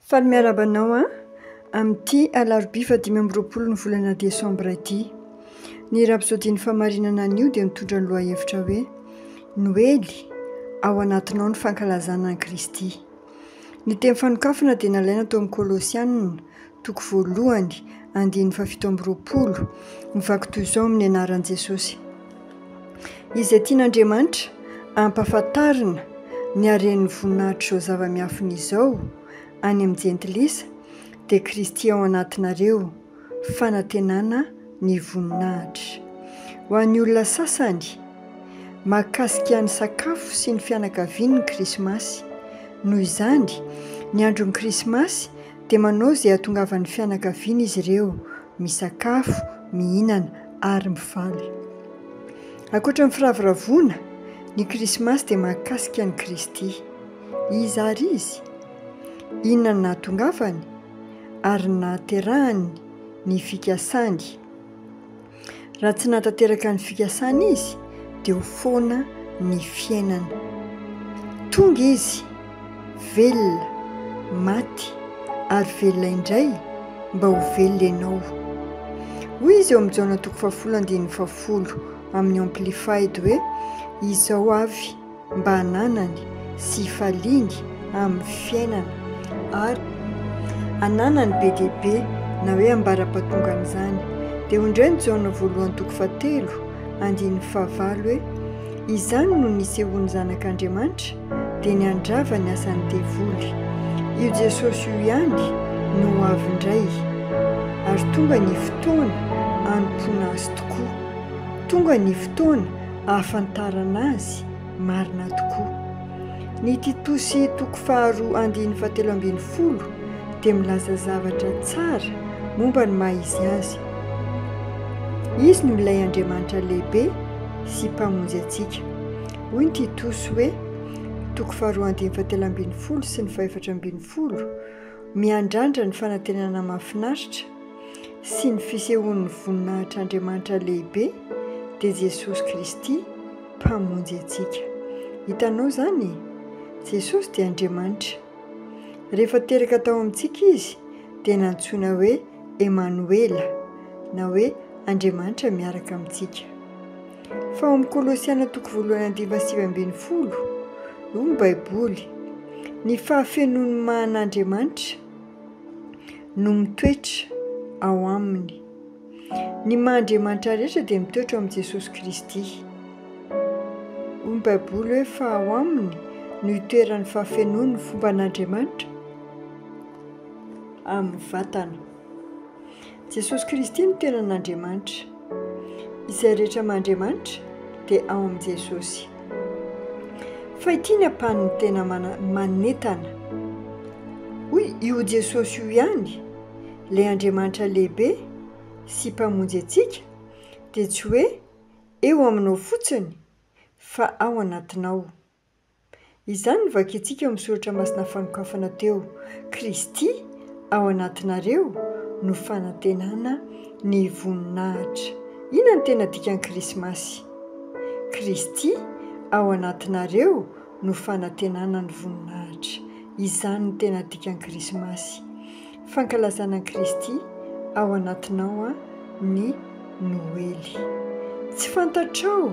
Faly miarahaba anao an! Amin'ity alarobia fahadimy amby roapolo ny volana desambra ity. Ny rapsodin'ny famarinana anio dia mitondra ny lohahevitra hoe Noely, ao anatinao ny fankalazana an'i Kristy. Ny teny fanokafana dia nalaina tao amin'ny Kolosianina, toko voalohany, andininy fahafito amby roapolo, mivaky toy izao amin'ny anaran'i Jesosy. Izay tian'Andriamanitra hampahafantarina ny haren'ny voninahitr'izao zava-miafina izao any amin'ny jentilisa dia Kristy ao anatinareo, fanantenana ny voninahitra. Ho an'ny olona sasany, mahakasika ny sakafo sy ny fianakaviany ny Krismasy. Noho izany, ny andron'ny Krismasy dia manao izay hahatongavan'ny fianakaviana izy ireo. misakafo, mihinana ary mifaly. Ankoatra ny firavoravoana, ny Krismasy dia mahakasika an'i Kristy. Iza àry izy? Inona no nahatongavany ary nahaterahany ny fikasany? Raha tsy nahatanteraka ny fikasany izy dia ho foana ny fiainana. Tonga izy, velona, maty, ary velona indray mba ho velona ianao. Hoy izy eo amin'ny Jaona toko fahafolo andininy fahafolo amin'ny Amplified hoe, Izao avy mba hananany sy hifaliany amin'ny fiainana ary hananany be dia be na hoe ambara-patongan'izany. Dia hoy indray ny Jaona voalohany toko fahatelo andininy fahavalo hoe, Izany no nisehoan'ny Zanak'Andriamanitra, dia ny handrava ny asan'ny devoly. Io Jesosy io ihany no ho avy indray. Ary tonga ny fotoana hanompoana azy tokoa. Tonga ny fotoana ahafantarana azy marina tokoa. Ny Titosy toko faharoa andininy fahatelo ambin'ny folo dia milaza zavatra tsara momba ny maha izy azy. Izy no milay Andriamanitra lehibe sy Mpamonjy antsika. Hoy ny Titosy hoe, toko faharoa andininy fahatelo ambin'ny folo sy ny fahefatra ambin'ny folo, Miandrandra ny fanantenana mahafinaritra, sy ny fisehoan'ny voninahitr'Andriamanitra lehibe dia Jesosy Kristy Mpamonjy antsika. Hitanao izany e? Jesosy dia Andriamanitra. Rehefa teraka tao amintsika Izy dia nantsoina hoe Emanoela na hoe Andriamanitra miaraka amintsika. Fa ao amin'ny Kolosiana toko voalohany andininy fahasivy ambin'ny folo, hoy ny Baiboly, Ny fahafenoan'ny maha an'Andriamanitra, no mitoetra ao aminy. Ny maha Andriamanitra rehetra dia mitoetra ao amin'i Jesosy Kristy. Hoy ny Baiboly hoe fa ao aminy no itoeran'ny fahafenoan'ny fomban'Andriamanitra amin'ny vatana. Jesosy Kristy no tenan'Andriamanitra. Izay rehetra aman-Driamanitra dia ao amin'i Jesosy. Fa ity ny ampanin'ny tena manentana. Hoy io Jesosy io ihany, ilay Andriamanitra lehibe sy Mpamonjy antsika dia tsy hoe eo aminao fotsiny fa ao anatinao. Izany no vakintsika eo amin'ny soratra masina fanokafana teo, Kristy ao anatinareo no fanantenana ny voninahitra. Inona no tena dikan'ny Krismasy? Kristy ao anatinareo no fanantenana ny voninahitra. Izany no tena dikan'ny Krismasy. Fankalazana an'i Kristy ao anatinao ny Noely. Tsy fantatrao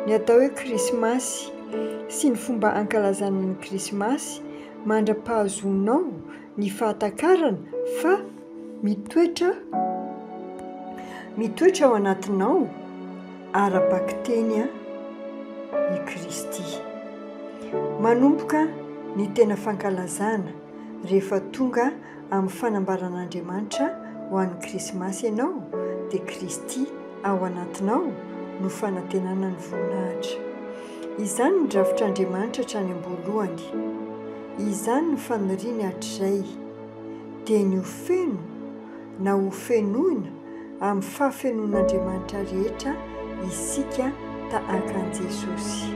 ny atao hoe Krismasy sy ny fomba ankalazana ny Krismasy mandra-pahazoanao ny fahatakarana fa mitoetra mitoetra ao anatinao ara-bakiteny i Kristy. Manomboka ny tena fankalazana. Rehefa tonga amin'ny fanambaran'Andriamanitra ho an'ny Krismasy ianao, dia Kristy ao anatinao no fanantenana ny voninahitra. Izany ny drafitr'Andriamanitra hatrany am-boalohany. Izany ny faniriany hatrizay, dia ny ho feno. na ho fenoina amin'ny fahafenoan'Andriamanitra rehetra isika tahaka an'i Jesosy.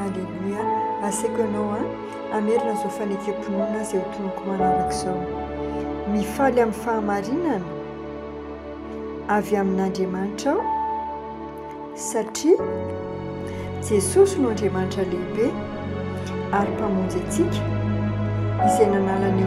Aleloia! Asaiko anao an, hamerina izao fanekempinoana izay hotonoko manaraka izao. Mifaly amin'ny fahamarinana avy amin'Andriamanitra aho satria Jesosy no Andriamanitra lehibe ary Mpamonjy antsika izay nanala ny